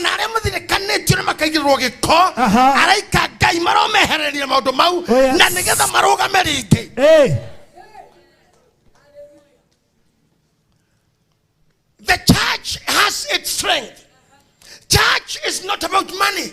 na arĩa mathirikanĩtio nĩ makaigĩrĩrwo gĩko Aha. araika ngai maromehereria maũndũ mau Oh, yes. na nĩgetha marũgame rĩngĩ Hey. the church has its strength church is not about money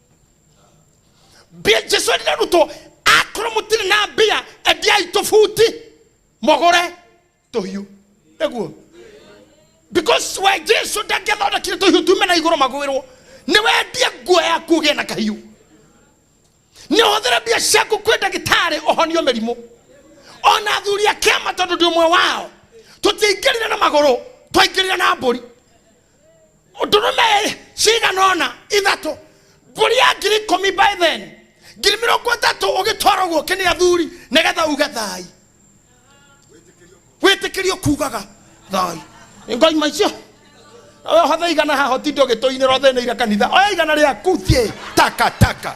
mbia jesu arĩ arutwo akorwo mũtirĩ na mbia endiai tũbuti mũgũre tũhiũ nĩguo because we jesu ndangĩthondekire tũhiũ tume na igũrũ magwĩrwo nĩ wendie nguo yaku ũgĩe na kahiũ nĩ ũhũthĩre mbia ciaku kwĩ ndagĩtarĩ ũhonio mĩrimũ ona athuri a kĩama tondũ ndĩ ũmwe wao tũtiaingĩrire na magũrũ twaingĩrire na mbũri ndũrũme cigana ũna ithatũ mbũri ya ngiri ikũmi by then ngiri mĩrongo ĩtatũ ũgĩtwara ũguo kĩnĩ athuri nĩgetha uge thai wĩtĩkĩrio kugaga thai nĩ ngai maicio we hothe igana haha ũtinde ũgĩtũinĩra ũthĩnĩire kanitha oya igana rĩaku thiĩ takataka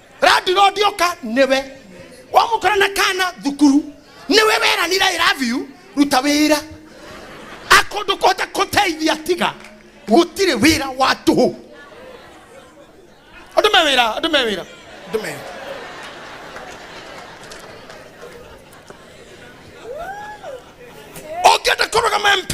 landlord oka niwe wamukora na kana thukuru niwe weranira i love you ruta wira akondu kota kuteithia tiga gutire wira wa tuhu andu me wira andu me wira andu me wira ũngĩenda kũrũgama mp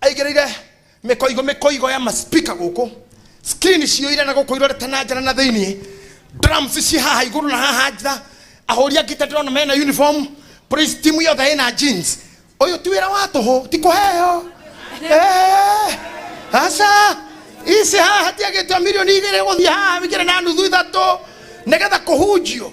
aigĩrĩire mĩkoigo mĩkoigo ya maspika gũkũ skrini ciũire na gũkũ irorete na njara na thĩinĩ drums ciĩ haha igũrũ na haha nja ahũri angĩ ta ndĩrona mena uniform praise team yothe ĩna jeans ũyũ ti wĩra wa tũhũ ti kũheo Eh, aca ici haha hatiagĩtwo mirioni igĩrĩ gũthiĩ haha igĩrĩ na nuthu ithatũ nĩgetha kũhunjio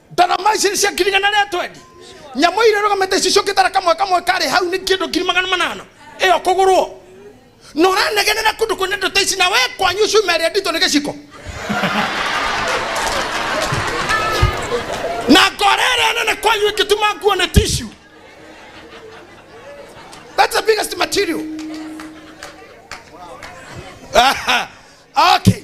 Daramaisin cia ngiri igana rĩa twendi nyamũ irĩa rũgamĩte cicũkĩtara kamwe kamwe karĩ hau nĩ kĩndũ ngiri magana manana ĩyo kũgũrwo na ũranegenera kũndũ kwĩna indo ta ici na we kwanyu cuma ĩrĩa nditũ nĩ gĩciko na ngora ĩrĩa nene kwanyu ĩkĩtuma nguo nĩ tishu that's the biggest material Aha. okay